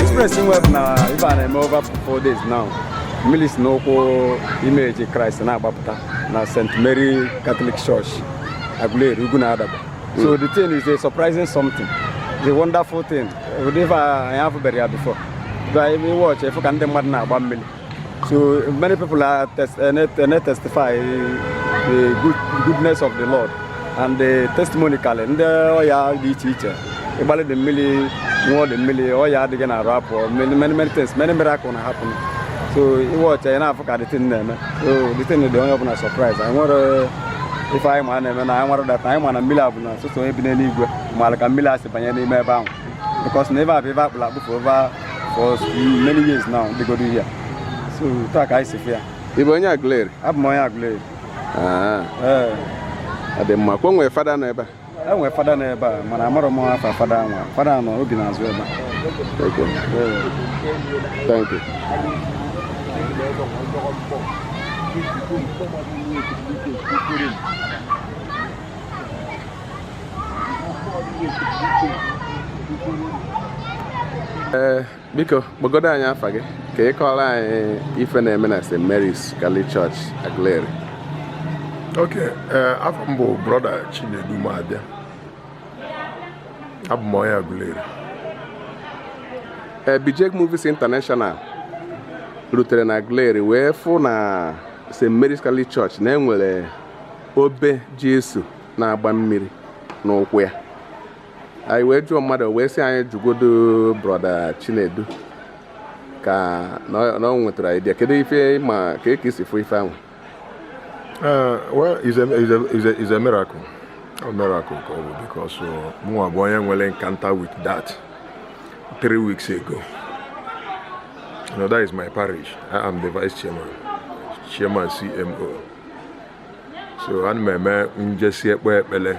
Express nweb na ife a na-eme over four days now mmili si n'ụkwụ image Christ na-agbapụta na St. Mary Catholic Church Aguleri ugwu na adaba so the thing is a surprising something is a wonderful thing ụdị ife anyị afụberọ ya before i mee watch ị fụ ka ndị mmadụ na-agba mmiri so many people are test, uh, eh, eh, testify the good, goodness of the Lord and the testimony kale ndị ọya dị iche iche ị gbalụ the mmili ṅụọ the mmili ọya dị gị n'arụ apụọ many many things many miracle na happen so ị watch ya na-afụ ka the thing na-eme so the thing dị onye ọbụla surprise anyị nwerọ ife anyị ma na-eme na anyị nwara data anyị ma na mmili a bụ na sọsọ onye bi n'eluigwe maara ka mmili a si banye n'ime ebe ahụ because na ebe a bụ ebe a kpụrụ akpụ for over for many years now dịgodo here. so taa ka anyị si fụ ya Ị bụ onye Aguleri? abụ m onye Aguleri Ah, ee ọ dị mma. Kwa e nwere fada nọ ebe a? e nwere fada nọ ebe a mana amarọ m afa fada anwa fada anọ obi na-azụ ebe ee eh, biko kpọgodo anyị afa gị ka ị kọọrọ anyị ife na-eme na St. Mary's Catholic Church Aguleri ok eh, afa m bụ brọda Chinedu Mabia abụ m onye Aguleri eh, Bijek Movies International rutere na Aguleri wee fụ na St. Mary's Catholic Church na e nwere obe Jesu na-agba mmiri n'ụkwụ ya anyị wee jụọ mmadụ wee sị anyị jụgodo brọda Chinedu ka na ọ nwetara idea kedu ife ị ma kee ka i si fụ ife ahụ uh, well is a, is a, is a, is a miracle a miracle ka ọ bụ because uh, mụnwa bụ onye nwere encounter with that three weeks ago you know that is my parish I am the vice chairman chairman CMO so ana m eme njesi ekpe ekpele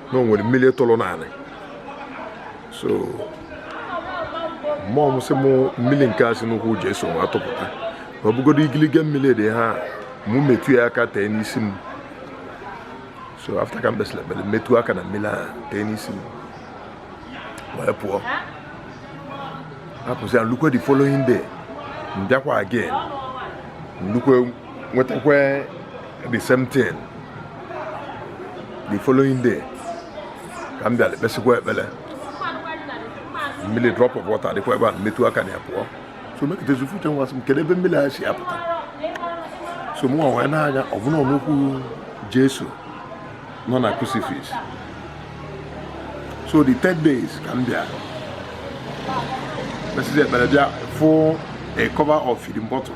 na o nwere mmili tụlụ n'anị so mmụọ m sị m mmili nke a si n'ụkwụ Jesu nwa tụpụta na ọ bụgodo igiligi mmili dị here mụ metụ ya aka tee n'isi m so after ka m kpesịlị ekpele metụ aka na mmili ahụ tee n'isi m wee pụọ hapụzi ya lukwe the following day m bịakwa again lukwe nwetakwa the same thing the following day ka m bịara kpesịkwa ekpere mmiri drop of water dịkwa ebe a m metụ aka na ya pụọ so mekatazi uche m wee sị m kedu ebe mmiri a si apụta so mụ wee nee anya ọ bụ n'ụkwụ jesu nọ na crucifix so the ten days ka m bịa mesịzi ekpere bịa fụ a cover of feeding bottle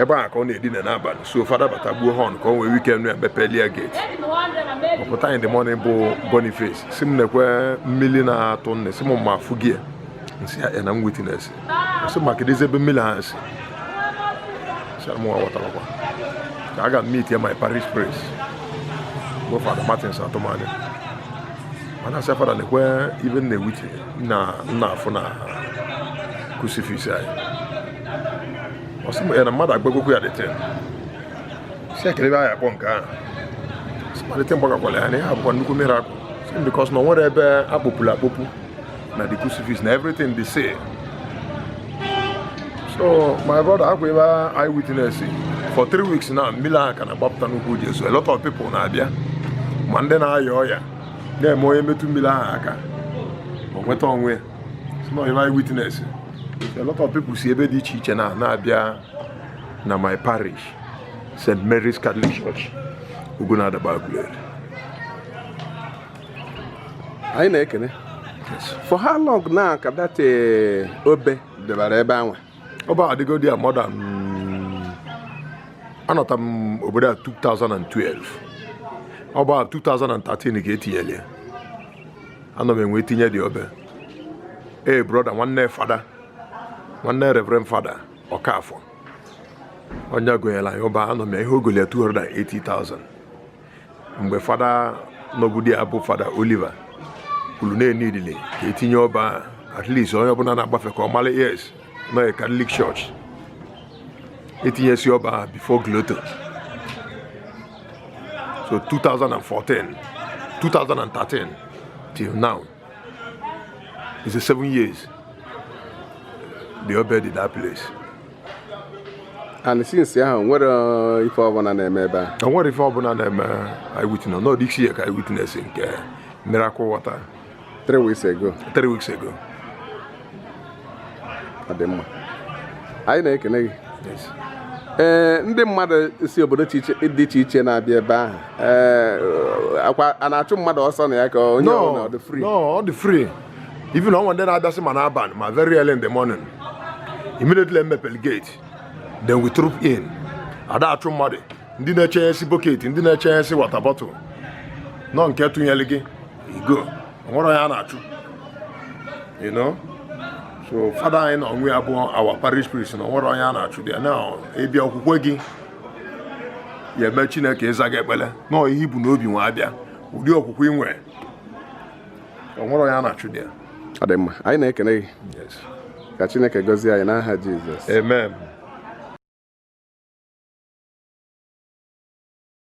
ebe a ka ọ na-edina n'abalị so fada bata gbuo họn ka o nwee ike nụ ya mepeli e gate ọ pụta in the morning bụ boniface sị m nekwa mmiri na-atụ nụ sị m m afụgo m sị ya na m witness sị m kedụzi ebe mmiri a si sị na m aghọtarọkwa ka m ga meet ya my parish priest bụ fada martins atụmanya m na-asị fada nekwa ive m na-ewitness na m na-afụ na crucifix anyị ọ sị m ya na mmadụ agbagokwa ya the thing si ekele ebe anyị akpọ nke ahụ si malite mgbagakwala ya na ihe a bụkwa nnukwu miracle sị because na o nwerọ ebe a kpọpụrụ akpọpụ na the crucifix na everything dị same so my brother ọ kwa ive anyị witness for three weeks now mmiri ahụ ka na-agbapụta n'ụkwụ Jesu a lot of people na-abịa ma ndị na-aya ọya na-eme onye metụ mmiri ahụ aka o nweta onwe so ihe anyị witness a lot of people si ebe dị iche iche na na-abịa na my parish st mary's catholic church ugwunadegbe aguleri anyị na-ekene for how long now ka that eh, obe e debara ebe anwa obe adịgo there more than anọta m obodo a 2012 ọ bụ 2013 ka e tinyere ya anọ m e wee tinye the obe ee brother nwanne fada nwanne reverend fada ọkafọ onye gonyere anyị obe anụ m na ihe o goli ya 280,000 mgbe fada nọbu there bụ fada oliver kwuru na e needili ka e tinye obe a at least onye ọbụla na-agbafe ka ọ mara yes na ọ catholic church e tinyesị obe a before grotto so 2014 2013 till now is a seven years the obe dị in that place and since ahụ o nwerọ uh, ife ọbụla na-eme ebe a o nwerọ ife ọbụla na-eme anyị witness na ọ this year ka anyị witness nke miracle water three weeks ago three weeks ago ọ dị mma anyị na-ekene gị yes ee eh, ndị mmadụ si obodo dị iche iche na-abịa ebe ahụ ee eh, akwa a na-achụ mmadụ ọsọ na ya ka onye ọ dị free no ọ dị free even onwe ndị na-abịasị ma n'abalị ma very early in the morning immediately emepel gate then we troop in ada achụ mmadụ ndị na-echenyesi boketi ndị na-echenyesi water bottle no nke tụnyere gị igo onwero onye a na-achụ you know so fada anyị na onwe ya bụ our parish priest na onwero onye a na-achụ there na ị bịa okwukwe gị ya-eme chineke ịza gị ekpele na ihe i bu n'obi wee abịa ụdị okwukwe ị nwere onwero onye a na-achụ there ọ dị mma anyị na-ekene gị ka chineke gọzie anyị n'aha jizọs amen